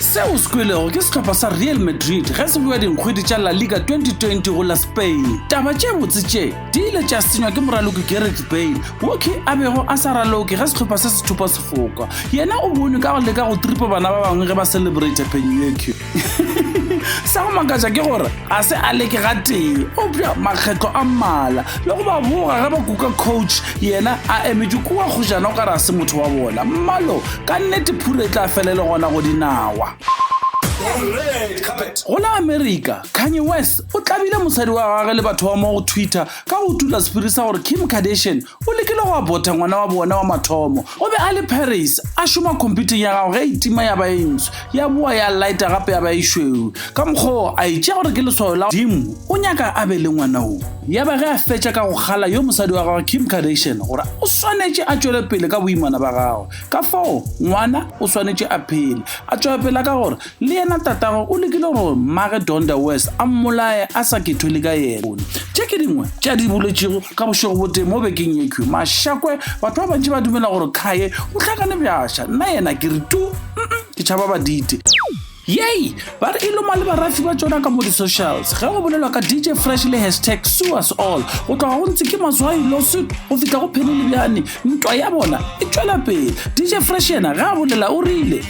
seo se kwelego ke sehlopha sa real madrid ge se boa dinkgwedi tša la liga 2020 go la spain taba tše botse tše di ile tša senywa ke moraloki gareth bale woki a bego a sa raloke ge sehlopha se se thupa sefoka yena o bonwe ka go leka go tripa bana ba bangwe ge ba celebrate penyueque sa go makatša ke gore ga se a leke ga tee opša makgetlo a mmala le go ba boga ge ba kuka coach yena a emetše kua kgojana o ka re a se motho wa bona mmalo ka nnete phure e tla fele le gona go dinawa go la america kanye west o tlabile mosadi wa gage le batho ba mo go twitter ka go tula sephiri sa gore kim kardashian O lekile go abotha ngwana wa bona wa mathomo. O be a le Paris, a šoma khomphutheng ya gagwe ge e tima ya ba e ntsho, ya boa ya lighta gape ya ba e šweu. Ka mokgwa wo, a e tšea gore ke leswao la Modimo, o nyaka a be le ngwana wo. Ya ba ge a fetša ka go kgala yo mosadi wa gagwe Kim Kardashian gore o swanetše a tšwele pele ka boimana ba gagwe. Ka fao, ngwana o swanetše a phele, a tšwapela ka gore Le yena tatagwe o lekile gore mmage Donda West a mmolaye a sa kethwele ka yena. Tše ke dingwe tša di boletšego ka bošego botee mo bekeng yekhwi. Mashakwe, batho ba bantši ba dumela gore Khaye o hlakane bjasha. Nna yena ke re tu, mm-mm, ke tšhaba badite. Yey! Ba re e loma le barafi ba tšona ka mo di-socials. Ge go bolelwa ka DJ Fresh le hashtag Sue Us All, go tloga go ntse ke Mazwai Lawsuit go fihla go Penny Lebeane, ntwa ya bona e tšwela pele. DJ Fresh yena ge a bolela o rile.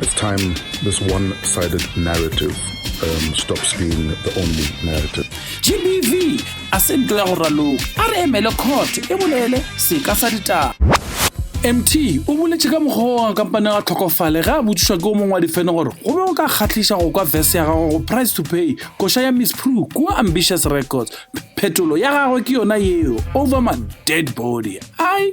It's time this one-sided narrative um, stops being the only narrative. GBV a se nto ya go raloka a re emele court e bolele seka sa ditaba mt o boletse ka mokgwa wa kampane ga tlhokofale ge a botsišwa ke o mongwe wa difene gore go be go ka kgatlhiša go kwa vese ya gagwe go price to pay koša ya miss pru kua ambitious records phetolo ya gagwe ke yona yeo over my dead body ai